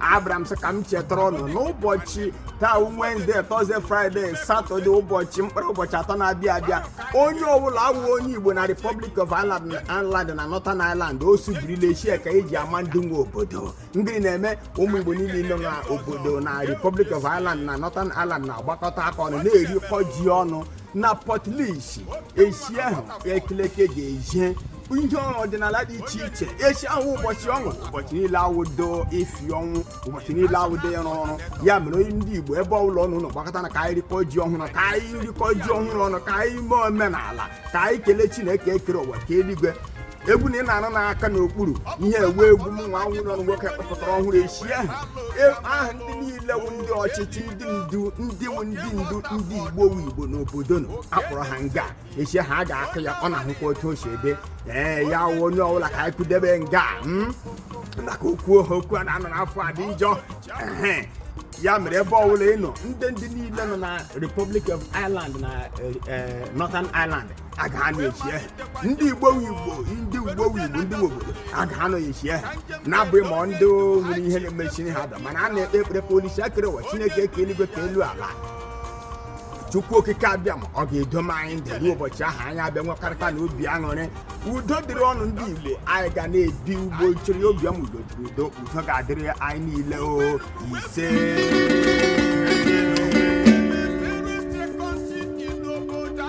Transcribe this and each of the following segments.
abịara m sị ka m chetara unu n'ụbọchị taa wednesday thursday friday saturday ụbọchị mkpụrụ ụbọchị atọ na-abịa abịa onye ọbụla wụ onye igbo na republic of ireland na northern ireland o sibirila eshi a ka e ji ama ndị nwe obodo gịrị na-eme ụmụ igbo niile nọ na obodo na republic of ireland na northern ireland na-agbakọta aka ọnụ na-erikọ ji ọnụ na portlaoise eshi ahụ ekeleke ga-eje ihe ọdịnala dị iche iche eshi ahụ ụbọchị ọṅụ ụbọchị niile awụdo ifi ọnwụ ụbọchị niile awụdo ịrụ ọrụ ya mere onye ndị igbo ebe ọbụla unu nọ gbakọtanụ ka anyị rikọ ji ọhụrụ ka anyị rikọ ji ọhụrụ ọnụ ka anyị mee omenala ka anyị kelee chineke kere ụwa kee eluigwe egwu na ị na-anụ n'aka n'okpuru ihe egwu egwu m nwa nwụrụ ọnụ nwoke kpọpụtara ọhụrụ eshi ahụ E, aha ndị niile wụ ndị ọchịchị ndị ndu ndị wụ ndị ndu ndị igbo wụ igbo n'obodo nọ a kpọrọ ha nga eshi ahụ a ga-akụ ya ọ na-ahụkwa otu o si ebe ee ya wụ onye ọbụla ka anyị kwudebe nga a, mm? maka okwu ohe okwu a na-anọ n'afọ a dị njọ Ehe. ya mere ebe ọbụla ị nọ ndị ndị niile nọ na republic of ireland na eh, eh, northern ireland aga ha na-echi ehe ndị igbo wụ igbo ndị igbo wụ igbo ndị nwe obodo aga ha nọ eshi ahụ na-abụghị ma ọ ndị nwere ihe na-emechiri ha da mana a na-ekpe ekpere ka olise kere ụwa chineke kee eluigwe kee elu ala chukwu okike abịama ọ ga-edoma anyị ndụ ruo ụbọchị ahụ anyị abịa nwekọrịta na obi aṅụrị udo dịrị unu ndị igbo anyị ga na-ebi ugbo chiri obi ọma udo dịrị udo udo ga-adịrị anyị niile o ise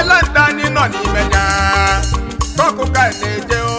Island anyị nọ n'ime ya kọkụ ka anyị na-eje o